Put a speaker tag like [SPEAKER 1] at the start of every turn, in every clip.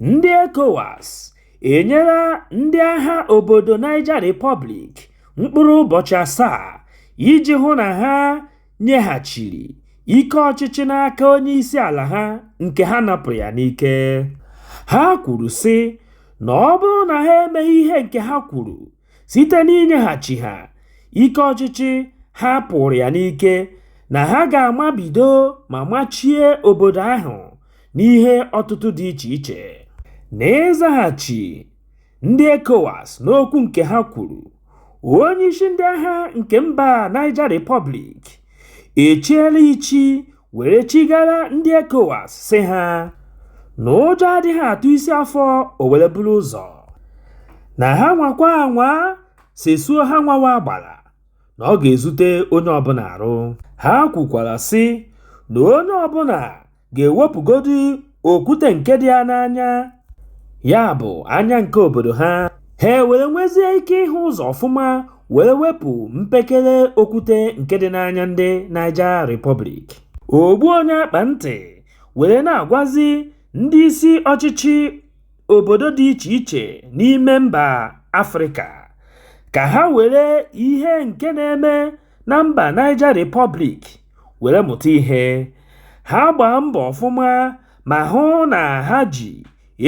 [SPEAKER 1] Ndị ECOWAS enyela ndị agha obodo Niger Republic mkpụrụ ụbọchị asaa iji hụ na ha nyeghachiri ike ọchịchị n'aka onyeisiala ha nke ha napụrụ ya n'ike. Ha kwuru sị na ọ bụrụ na ha emeghị ihe nke ha kwuru, site n'inyeghachi ha ike ọchịchị ha pụrụ ya n'ike na ha ga-amabido ma machie obodo ahụ n'ihe ọtụtụ dị iche iche. N'ịzaghachi ndị ECOWAS n'okwu nke ha kwuru, onyeisi ndị agha nke mba Niger Republic echiela ichi were chigara ndị ECOWAS sị ha na ụjọ adịghị atụ isi afọ o were buru ụzọ na ha nwakwa anwa sesuo ha nwawa agbara na ọ ga-ezute onye ọbụla arụ ha kwukwara sị na onye ọbụla ga-ewepụgodi okwute nke dị ya n'anya ya bụ anya nke obodo ha ha were nwezie ike ịhụ ụzọ ọfụma were wepụ mpekere okwute nke dị n'anya ndị Niger Republic ogbu onye akpa ntị were na-agwazi ndị isi ọchịchị obodo dị iche iche n'ime mba Afrịka ka ha were ihe nke na-eme na mba Niger Republic were mụta ihe ha gbaa mbọ ọfụma ma hụ na ha ji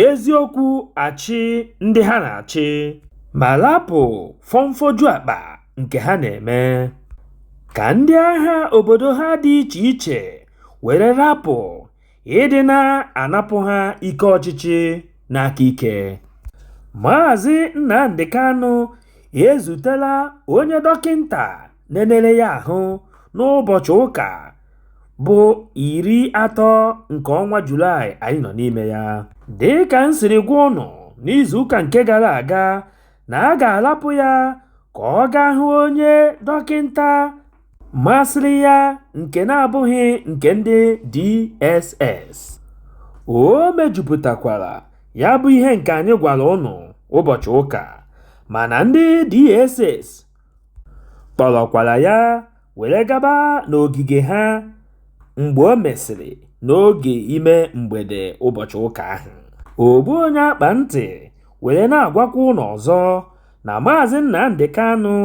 [SPEAKER 1] eziokwu achị ndị ha na-achị ma lapụ fọmfọju akpa nke ha na-eme ka ndị agha obodo ha dị iche iche were lapụ ịdị na-anapụ ha ike ọchịchị n'aka ike Maazị Nnamdi Kanu ezutela onye dọkịnta nenere ya ahụ n'ụbọchị ụka bụ iri atọ nke ọnwa Julaị anyị nọ n'ime ya dị ka m siri gwa ụnụ n'izuụka nke gara aga na a ga-alapụ ya ka ọ gaa hụ onye dọkịnta masịrị ya nke na-abụghị nke ndị DSS. O mejupụtakwara ya bụ ihe nke anyị gwara ụnụ ụbọchị ụka mana ndị DSS kpọrọkwara ya were gaba n'ogige ha mgbe o mesịrị n'oge ime mgbede ụbọchị ụka ahụ. Ogbu onye akpa ntị were na-agwakwa ụnụ ọzọ na Maazị Nnamdi Kanu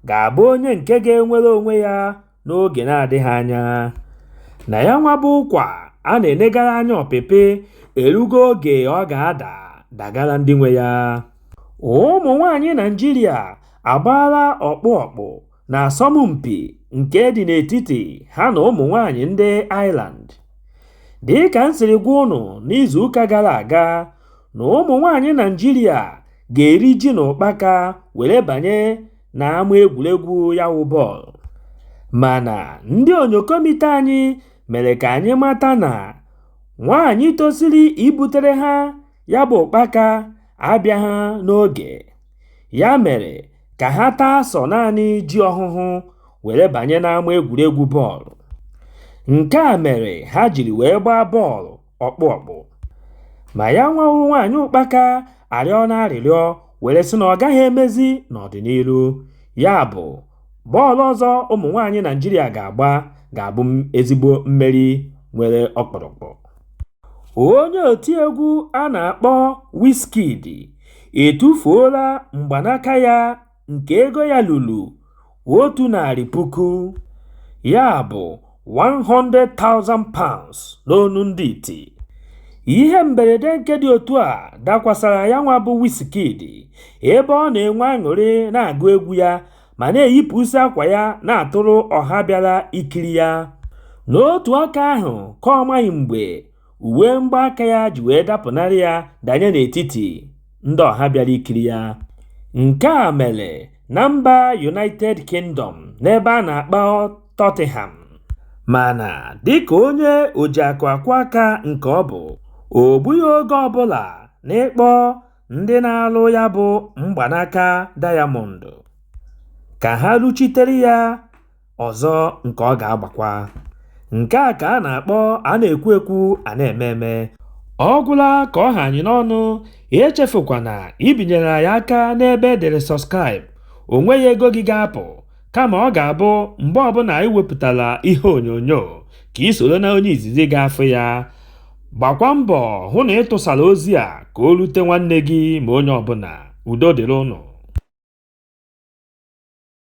[SPEAKER 1] ga-abụ onye nke ga-enwere onwe ya n'oge na-adịghị anya. Na ya nwa bụ ụkwa a na-enegara anya ọpịpị erugo oge ọ ga-ada dagara ndị nwe ya. Ụmụ nwaanyị Naịjirịa agbaala ọkpụ ọkpụ Na asọmpi nke dị n'etiti ha na ụmụ nwaanyị ndị Ireland. Dị ka m siri gwa ụnụ n'izuụka gara aga na ụmụ nwaanyị Naịjirịa ga-eri ji na ụkpaka were banye n'ama egwuregwu ya wụ bọọlụ. Mana ndị onyokomite anyị mere ka anyị mata na nwaanyị tosiri ibutere ha ya bụ ụkpaka abịaghị n'oge. Ya mere ka ha taa sọ naanị ji ọhụhụ were banye n'ama egwuregwu bọọlụ. Nke a mere ha jiri wee gbaa bọọlụ ọkpụ ọkpụ. Ma yanwa wụ nwaanyị ụkpaka arịọna arịrịọ were sị na ọ gaghị emezi n'ọdịnihu. Ya bụ, bọọlụ ọzọ ụmụ nwaanyị Naịjirịa ga-agba ga-abụ ezigbo mmeri nwere ọkpụrụkpụ. Onye otiegwu a na-akpọ Wizkid etufuola mgbanaka ya nke ego ya ruru 100,000, ya bụ £100,000 n'onu ndị iti. Ihe mberede nke dị otu a dakwasara yanwa bụ Wizkid ebe ọ na-enwe aṅụrị na-agụ egwu ya. ma na-eyipụsị akwa ya na-atụrụ ọha bịara ikiri ya n'otu aka ahụ ka ọ maghị mgbe uwe mgbaaka ya ji wee dapụnarị ya danye n'etiti ndị ọha bịara ikiri ya nke a mere na mba united kingdom n'ebe a na-akpọ tottenham mana dịka onye o ji akụ akwọ aka nke ọ bụ o gbughị oge ọbụla n'ịkpọ ndị na-alụ ya bụ mgbanaka diamond ka ha rụchitere ya ọzọ nke ọ ga-agbakwa. Nke a ka a na-akpọ a na-ekwu ekwu a na-eme eme. Ọ gwụla ka ọ ha anyị n'ọnụ, echefukwana ibinyere anyị aka n'ebe e dere subscribe, o nweghị ego gị ga-apụ. kama ọ ga-abụ mgbe ọbụla anyị wepụtara ihe onyonyo ka ị soro na onye izizi ga-afụ ya gbakwa mbọ hụ na ị tụsara ozi a ka o rute nwanne gị ma onye ọbụla udo dịrị ụnụ